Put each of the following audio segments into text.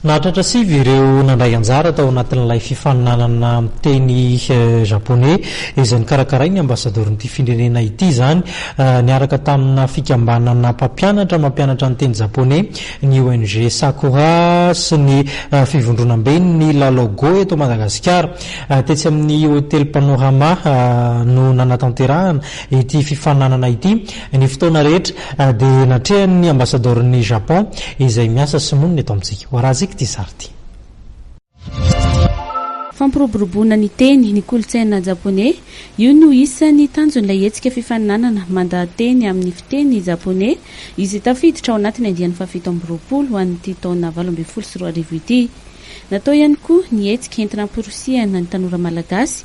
Nahatratra sivy ireo nandray anjara tao anatin'ilay fifaninanana miteny Japoney, izay nokarakarain'ny Ambasadaoron'ity firenena ity izany, niaraka tamina fikambanana mpampianatra mampianatra ny teny Japoney, ny ONG Sakura sy ny Fivondronamben'ny Lalao Go eto Madagasikara. Tetsy amin'ny Hotely Panorama no nanatanterahana ity fifaninanana ity, Ny fotoana rehetra dia natrehan'ny Ambasadaoron'i Japon izay miasa sy monina eto amintsika. Hoarahantsika ity sary ity. Fampiroboroboana ny teny, ny kolontsaina japoney, io no isan'ny tanjon'ilay hetsika fifaninanana mandaha-teny amin'ny fiteny japoney izay tafiditra ao anatin'ny andiany fahafito amby roapolo ho an'ity taona valo ambin'ny folo sy roa arivo ity. Natao ihany koa ny hetsika entina hamporisihana ny tanora malagasy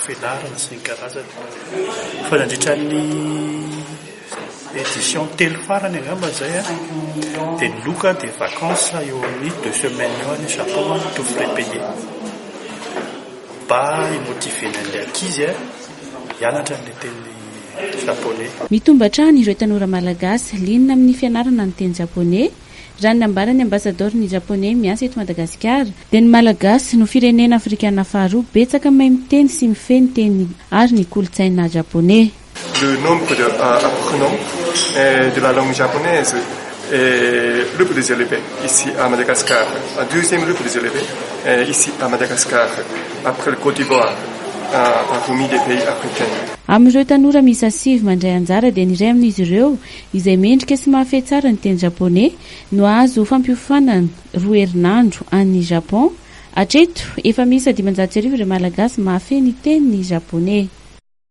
Velarana sy ny karazany. Fa nandritra ny édition telo farany angamba izay a, dia ny loka dia vacances eo amin'ny deux semaines eo any Japon a, tout frais payé. Mba hi-motiver-na ny ankizy a, hianatra ny teny japoney. Mitombo hatrany ireo tanora malagasy liana amin'ny fianarana ny teny japoney Raha ny nambaran'ny Ambasadaoron'ny Japoney miasa eto Madagasikara, dia ny Malagasy no firenena afrikana faharoa betsaka mahay miteny sy mifehy ny teniny ary ny kolontsaina Japoney. Le nombre de apprenants de la langue japonaise est le plus élevé ici à Madagascar, deuxième le plus élevé ici à Madagascar après le Côte d'Ivoire parmi les pays africains. Amin'ireo tanora miisa sivy mandray anjara dia ny iray amin'izy ireo izay mendrika sy mahafehy tsara ny teny japoney no hahazo fampiofanana roa herinandro any Japon. Hatreto, efa miisa dimanjato sy arivo ireo Malagasy mahafehy ny teny japoney.